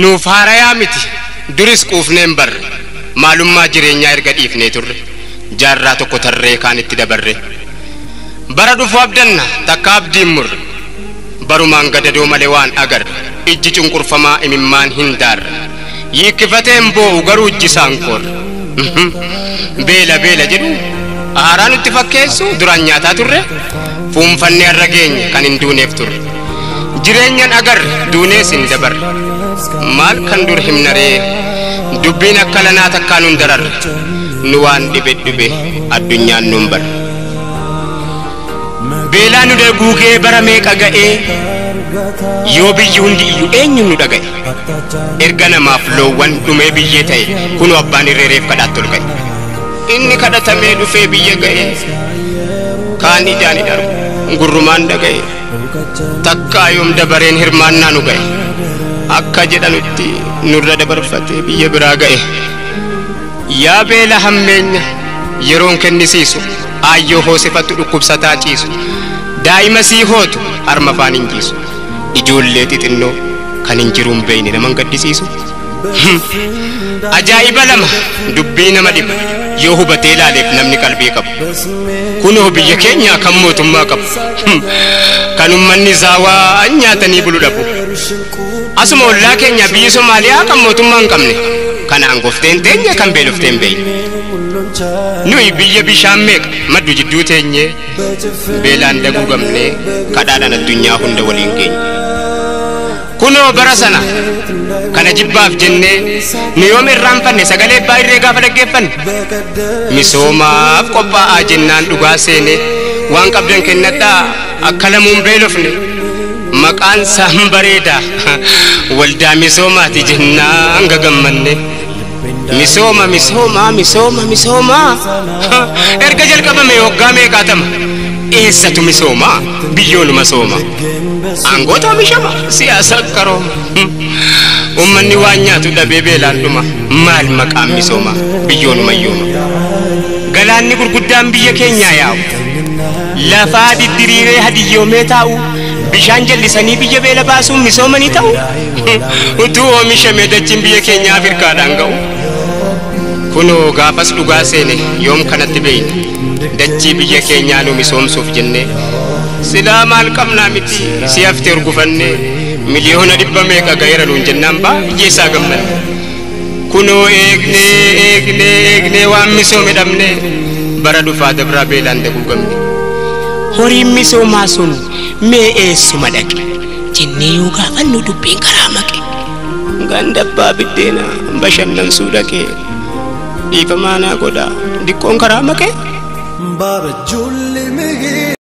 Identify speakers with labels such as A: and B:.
A: Nuuf haarayaa miti duris quufneen barre maalummaa jireenyaa erga dhiifnee turre jaarraa tokko tarree kaan itti dabarre bara dhufu abdanna takka abdiin murre barumaan gadadoo malee waan agarre ijji cunqurfamaa imimmaan hin daarre Yiikkifateen boo'u garuu ijji isaa hin qoorre. Beela beela jedhu aaraa nutti fakkeessu duraan nyaataa turre fuunfannee har'a geenye kan hin duuneef turre. Jireenyan agarre duunees hin dabarre. Maal kan dur himna ree dubbiin akka lanaa takkaa nun dararre nu waan dhibe dhube addunyaan nun barre. Beelaa nu daguugee bara meeqa ga'ee yoo biyyi hundi iyyu eenyuun nu dhaga'e. Erga namaaf loowwan dhumee biyyee ta'e kunoo abbaan irree reef kadhaatti ol ka'e. Inni kadhatamee dhufee biyya ga'e kaan ijaan hin argu gurrumaan dhaga'e takkaa yoom dabareen hirmaannaa nu ga'e akka jedhanutti nurra dabarfatee biyya biraa ga'e. Yaa beela hammeenya yeroon kennisiisu aayyoo hoosifattu dhukkubsataa ciisu daa'ima sii hootu harma afaan hin jiisu. ijoollee xixinnoo kan hin jiruun beeyne naman gaddisiisu hmm. ajaa'iba lama dubbii nama dhibu yoo hubatee laaleef namni qalbii qabu kunoo biyya keenyaa kan mootummaa qabu hmm. kan ummanni zaawaa an nyaatanii bulu dhabu asuma ollaa keenya biyyi somaaliyaa kan mootummaa hin qabne kanaan gofteen teenya kan beelofteen beeyne nuyi biyya bishaan meeqa maddu jidduu teenyee beelaan daguugamne kadhaadhaan addunyaa hunda waliin geenye. Kunoo bara sana kana jibbaaf jennee nu yoom irraanfanne sagalee abbaa irree gaafa dhaggeeffanne misoomaaf qophaa'aa jennaan dhugaa seene waan qabdan kennadhaa akka lamuun beelofne maqaan saan bareeda waldaa misoomaati jennaan gagammanne. Misooma misooma misooma misooma erga jalqabame waggaa meeqaatama eessatu misooma biyyoonuma sooma aangoota omishama siyaasa qarooma ummanni waan nyaatu dhabee beelaan dhuma maal maqaan misooma biyyoonuma yooma galaanni gurguddaan biyya keenyaa yaa'u lafaa diddiriiree hadiyyoomee taa'u bishaan jallisanii biyya beela baasuun misoomanii ta'u utuu oomishame dachiin biyya keenya Afirkaadhaan ga'u. Kunoo gaafas dhugaa seene yoom kanatti beeyna dachii biyya keenyaa nu misoomsuuf jennee. Silaa maal qabnaa miti si hafte urgufannee miliyoona dhibba meeqa ga'eera nuun jennaan baay'ee isaa gammanne. Kunoo eegnee eegnee eegnee waan misoome dhabnee bara dhufaa dabraa beelaan daguugamne. Horiin misoomaa sun mee eessuma dhaqe? jennee yoo gaafannu dubbiin karaa maqe. Ganda abbaa biddeenaa bashannansuu dhaqee dhiifamaa naa godhaa diqqoon karaa maqe. Baaba julli mihii.